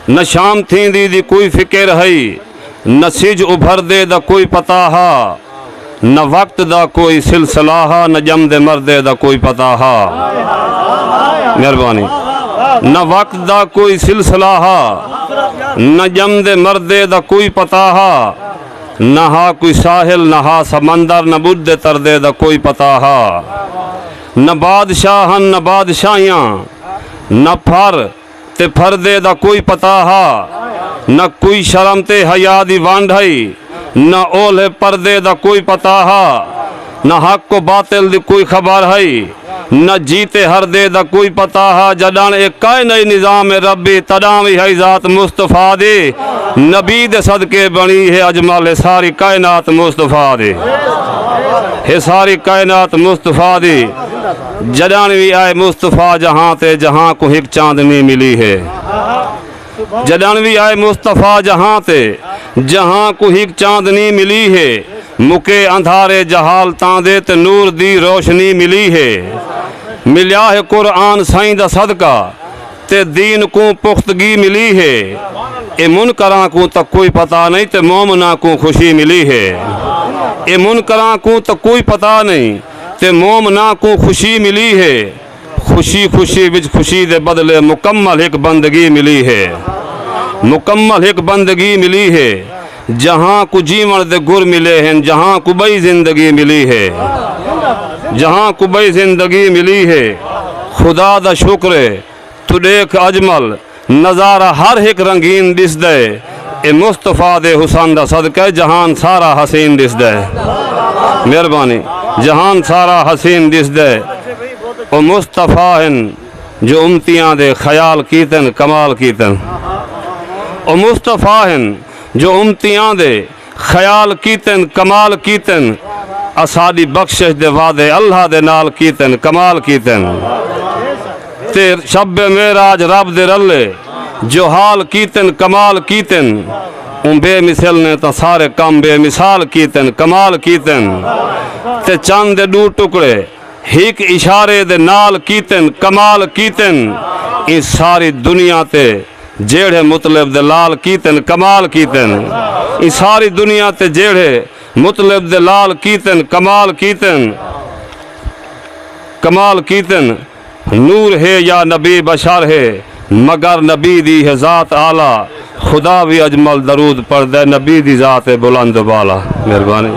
نہ شام تھیندی دی کوئی فکر ہئی، نہ سجھ ابھردے دا کوئی پتہ ہا، نہ وقت دا کوئی سلسلہ ہا، نہ ڄمدے مردے دا کوئی پتہ ہا۔ مہربانی۔ نہ وقت دا کوئی سلسلہ ہا، نہ ڄمدے مردے دا کوئی پتہ ہا، نہ ہا کوئی ساحل، نہ ہا سمندر، نہ ٻݙدے تردے دا کوئی پتہ ہا۔ نہ بادشاہ ہن، نہ بادشاہیاں، نہ پھر۔ تے پھردے دا کوئی پتہ ہا۔ نہ کوئی شرم تے حیا دی ونڈ ہئی۔ نہ اولھے پردے دا کوئی پتہ ہا۔ نہ حق و باطل دی کوئی خبر ہئی۔ نہ جیتے ہردے دا کوئی پتہ ہا۔ جڈݨ اے کائنائی نظام ربی تڈاں وی ہئی ذات مصطفی دی نبی دے صدقے بݨی ہے اجمل ہے ساری کائنات مصطفی دی ہے ساری کائنات مصطفی دی۔ جݙݨ وی آئے مصطفی جہاں تے جہاں کوں ہک چاندنی ملی ہے جݙݨ وی آئے مصطفی جہاں تے جہاں کوں ہک چاندنی ملی ہے مکے اندھارے جہالتاں دے تے نور دی روشنی ملی ہے ملیا ہے قرآن سائیں دا صدقہ تے دین کوں پختگی ملی ہے اے منکراں کوں تک کوئی پتہ نہیں تے مومناں کوں خوشی ملی ہے اے منکراں کوں تک کوئی پتہ نہیں تے مومناں کوں خوشی ملی ہے۔ خوشی خوشی وچ خوشی دے بدلے مکمل ہک بندگی ملی ہے۔ مکمل ہک بندگی ملی ہے۔ جہاں کوں جیوݨ دے گر ملے ہن جہاں کوں ٻئی زندگی ملی ہے۔ جہاں کوں ٻئی زندگی ملی ہے۔ خدا دا شکر ہے۔ توں ݙیکھ اجمل نظارہ ہر ہک رنگین ݙسدا ہے اے مصطفی دے حسن دا صدقہ ہے جہان سارا حسین ݙسدا ہے مہربانی جہان سارا حسین ݙسدا ہے او مصطفی ہن جو امتیاں دے خیال کیتن کمال کیتن او مصطفی ہن جو امتیاں دے خیال کیتن کمال کیتن اساڈی بخشش دے وعدے اللہ دے نال کیتن کمال کیتن تے شب معراج رب دے رلے جو حال کیتن کمال کیتن اوں بے مثل نے تاں سارے کم بے مثال کیتن کمال کیتن تے چن دے ڈو ٹکڑے ہک اشارے دے نال کیتن کمال کیتن ایں ساری دنیا تے جیڑھے مطلب دے لال کیتن کمال کیتن ایں ساری دنیا تے جیڑھے مطلب دے لال کیتن کمال کیتن کمال کیتن نور ہے یا نبی بشر ہے مگر نبی دی ہے ذات اعلی خدا وی اجمل درود پڑھدے نبی دی ذات بلند و بالا مہربانی۔